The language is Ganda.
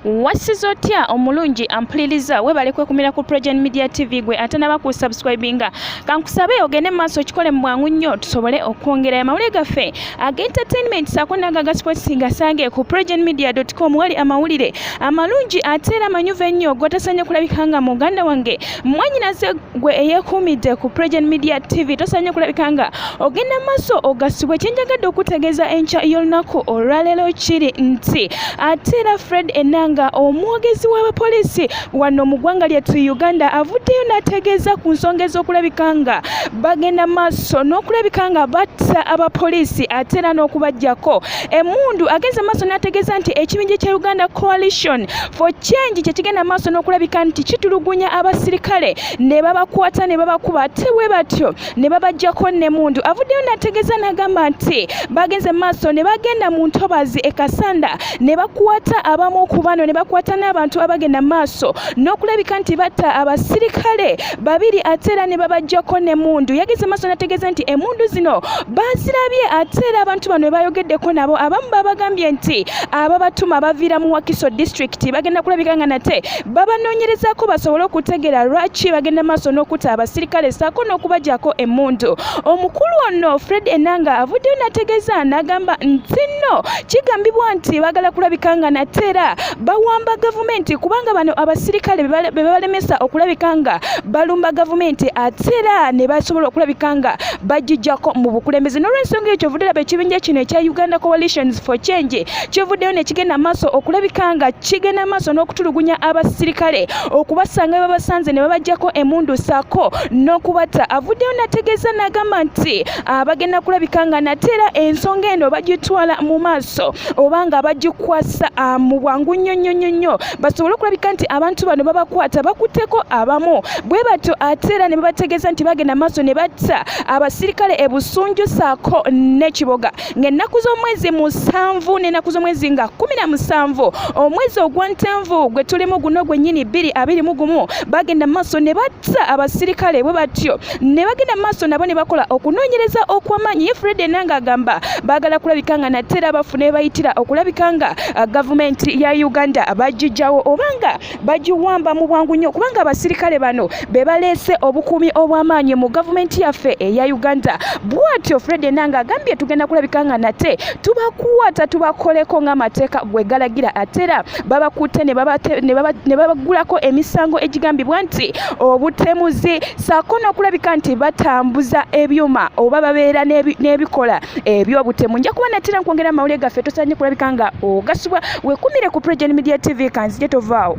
wassiza otya omulungi ampuliriza webale kwekumira ku progen media tv gwe ate naba ku subscribinga kankusabe ogende mu maaso okikole mu bwangu nnyo tusobole okwongera amawulire gaffe aga entertainment saako naga ga sports ngasange ku progen media com wali amawulire amalungi ate era amanyuvu ennyo gotasanye kulabika nga muganda wange mwanyinaze gwe eyekuumidde ku pregen media tv tosanye kulabika nga ogenda maaso ogasibwa ekyenjagadde okutegeeza enkya y'olunaku olwaleero kiri nti ate era fred enanga omwogezi w'abapoliisi wano mu ggwanga lyettu uganda avuddeyo n'ategeeza ku nsonga ez'okulabika nga bagenda maaso n'okulabika nga batta abapoliisi ate era n'okubajjako emundu agenze maaso n'ategeeza nti ekibinja kya uganda coalition for change kyekigenda maaso n'okulabika nti kitulugunya abasirikale ne babakwata ne babakuba ate bwe batyo ne babajjako nemundu avuddeyo n'ategeeza n'agamba nti bagenze maaso ne bagenda mu ntobazi e kasanda ne bakwata abamu ku bano ne bakwata n'abantu abagenda maaso n'okulabika nti batta abasirikale babiri ate era ne babajjako n'emmundu yageze maaso nategeeza nti emmundu zino bazirabye ate era abantu bano bebayogeddeko nabo abamu babagambye nti ababatuma baviira mu wakiso district bagenda kulabika nga nate babanoonyerezako basobole okutegeera lwaki bagenda maaso n'okuta abasirikale saako n'okubajako emmundu omukulu ono fred enanga avuddeyo nategeeza n'agamba nti nno kigambibwa nti bagala kulabika nga nate era bawamba gavumenti kubanga bano abasirikale bebalemesa okulabika nga balumba gavumenti ate era ne basobola okulabika nga bajijjako mu bukulembeze n'olwensonga ekyo ovudde laba ekibinja kino ekya uganda coalitions for change kivuddeyo nekigenda maaso okulabika nga kigenda maaso n'okutulugunya abasirikale okubasanga bebabasanze ne babajjako emundu saako n'okubatta avuddeyo nategeeza nagamba nti abagenda kulabika nga nate era ensonga eno bagitwala mu maaso oba nga bagikwasa ah, mu bwangu nnyo nnyo nnyo nnyo basobole okulabika nti abantu bano babakwata bakutteko abamu bwe batyo ate era ne babategeeza nti bagenda maaso ne batta abasirikale e busunju saako n'ekiboga ng'ennaku z'omwezi musanvu n'ennaku z'omwezi nga kumi na musanvu omwezi ogwa ntanvu gwe tulimu guno gwennyini bbiri abiri mu gumu bagenda mu maaso ne batta abasirikale bwe batyo ne bagenda maaso nabo ne bakola okunoonyereza okw'amaanyi ye fred enanga agamba baagala kulabika nga nate era bafuna ebayitira okulabika nga uh, gavumenti ya uganda bagijjawo obanga bagiwamba mu bwangu nnyo kubanga abasirikale bano be baleese obukuumi obw'amaanyi mu gavumenti yaffe eya uganda bwatyo fred enanga agambye tugenda kulabika nga nate tubakwata tubakoleko ng'amateeka gwe galagira ate era babakutte ne babagulako emisango egigambibwa nti obutemuzi saako n'okulabika nti batambuza ebyuma oba babeera n'ebikola ebyobutemu nja kuba natera nkwongera amawulire gaffe tosanye kulabika nga ogasibwa wekumire ku progen media tv kanzije tovaawo